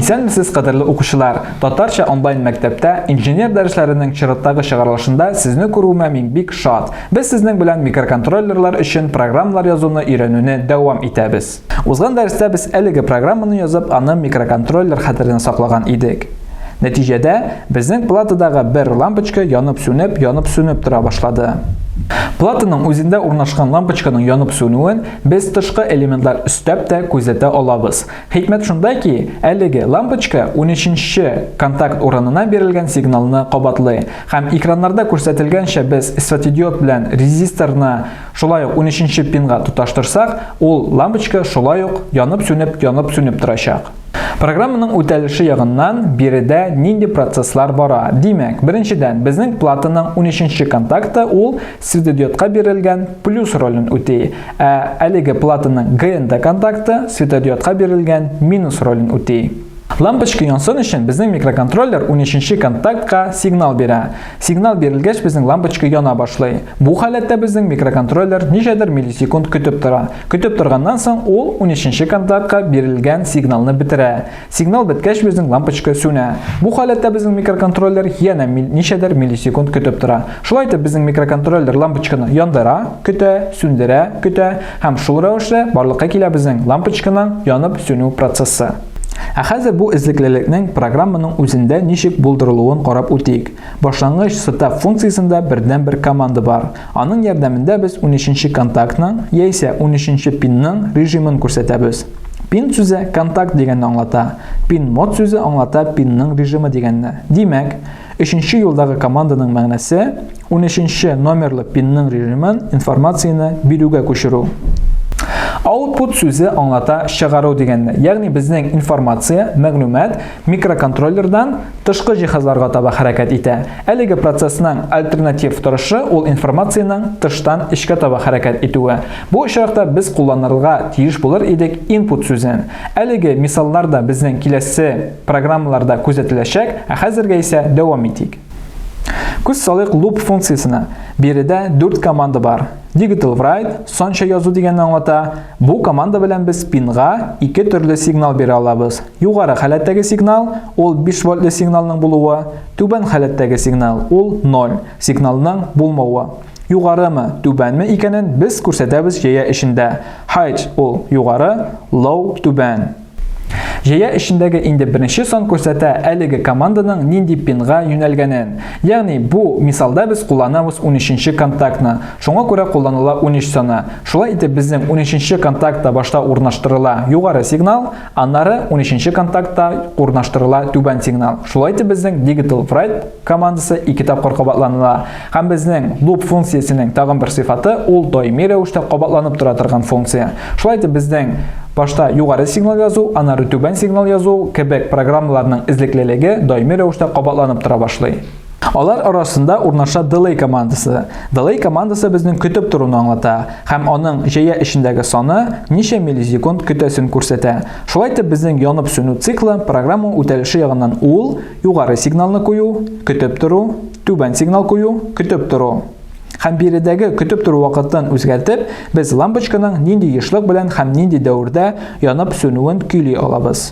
Исәнмесез, кадерле укучылар! Татарча онлайн мәктәптә инженер дәресләренең чираттагы чыгарылышында сезне күрүемә мин бик шат. Без сезнең белән микроконтроллерлар өчен программалар язуны өйрәнүне дәвам итәбез. Узган дәрестә без әлеге программаны язып, аны микроконтроллер хәтеренә саклаган идек. Нәтиҗәдә, безнең платадагы бер лампочка янып-сүнеп, янып-сүнеп тора башлады. Платаның үзендә урнашкан лампочканың янып-сүнүен без тышкы элементлар өстәп тә күзәтә алабыз. Хикмәт шунда ки, әлеге лампочка унөченче контакт урынына бирелгән сигналны кабатлый. Һәм экраннарда күрсәтелгәнчә без светодиод белән резисторны шулай ук унөченче пинга тоташтырсак, ул лампочка шулай ук янып-сүнеп, янып-сүнеп торачак. Программаның үтәлеше ягыннан биредә нинди процесслар бара? Димәк, беренчедән, безнең платаның унөченче контакты ул, светодиодка бирелгән плюс ролен үти, ә әлеге платаның ГНД контакты светодиодка бирелгән минус ролен үти. Лампочка янсын өчен безнең микроконтроллер 13-нче контактка сигнал бирә. Сигнал бирелгәч безнең лампочка яна башлый. Бу халәттә безнең микроконтроллер ничәдер миллисекунд көтеп тора. Көтеп торганнан соң ул 13-нче контактка бирелгән сигналны бетерә. Сигнал беткәч безнең лампочка сүнә. Бу халәттә безнең микроконтроллер янә ничәдер миллисекунд көтеп тора. Шулай итеп безнең микроконтроллер лампочканы яндыра, көтә, сүндерә, көтә һәм шул рәвешле барлыкка килә безнең лампочканың янып сүнү процессы. Ә хәзер бу эзлеклелекнең программаның үзендә ничек булдырылуын карап үтик. Башлангыч сетап функциясендә бердән-бер команда бар. Аның ярдәмендә без 13 нче контактның яисә 13 нче пинның режимын күрсәтәбез. Пин сүзе контакт дигәнне аңлата. Пин мод сүзе аңлата пинның режимы дигәнне. Димәк, өченче юлдагы команданың мәгънәсе 13 номерлы пинның режимын информацияне бирүгә күчерү. Output сүзе аңлата чыгару дигәнне. Ягъни безнең информация, мәгълүмат микроконтроллердан тышкы җиһазларга таба хәрәкәт итә. Әлеге процессның альтернатив торышы ул информациянең тыштан эчкә таба хәрәкәт итүе. Бу очракта без кулланырга тиеш булыр идек input сүзен. Әлеге мисаллар да безнең киләсе программаларда күзәтеләчәк, ә хәзергә исә дәвам итик. Күз салыйк loop функциясенә. Биредә дүрт команда бар. Digital write, санча язу дигәнне аңлата. Бу команда белән без пинга ике төрле сигнал бирә алабыз. Югары халәттәге сигнал, ул 5 вольтлы сигналның булуы, түбән халәттәге сигнал, ул 0, сигналның булмавы. Югарымы, түбәнме икәнен без күрсәтәбез җәя эчендә. High, ул югары, low, түбән. Җәя эчендәге инде беренче сан күрсәтә әлеге команданың нинди пинга юнәлгәнен. Ягъни, бу мисалда без кулланабыз унөченче контактны. Шуңа күрә кулланыла унөч саны. Шулай итеп, безнең унөченче контактта башта урнаштырыла югары сигнал, аннары унөченче контактта урнаштырыла түбән сигнал. Шулай итеп, безнең digital write командасы ике тапкыр кабатланыла. Һәм безнең loop функциясенең тагын бер сыйфаты ул даими рәвештә кабатланып тора торган функция. Шулай итеп безнең башта югары сигнал язу, аннары түбән сигнал язу кебек программаларның эзлеклелеге даими рәвештә кабатланып тора башлый. Алар арасында урнаша delay командасы. Delay командасы безнең көтеп торуны аңлата һәм аның җәя эчендәге саны ничә миллисекунд көтәсен күрсәтә. Шулай итеп безнең янып сүнү циклы программа үтәлеше ягыннан ул Югары сигналны кую, көтеп тору, түбән сигнал кую, көтеп тору. Һәм биредәге көтеп тору вакытын үзгәртеп, без лампочканың нинди ешлык белән һәм нинди дәвердә янып сүнүен көйли алабыз.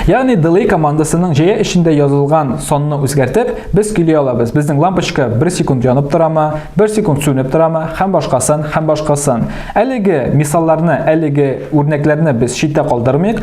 Ягъни delay командасының җәя эчендә язылган санны үзгәртеп, без көйли алабыз. Безнең лампочка 1 секунд янып торамы, 1 секунд сүнеп торамы, һәм башкасын, һәм башкасын. Әлеге мисалларны, әлеге үрнәкләрне без читтә калдырмыйк.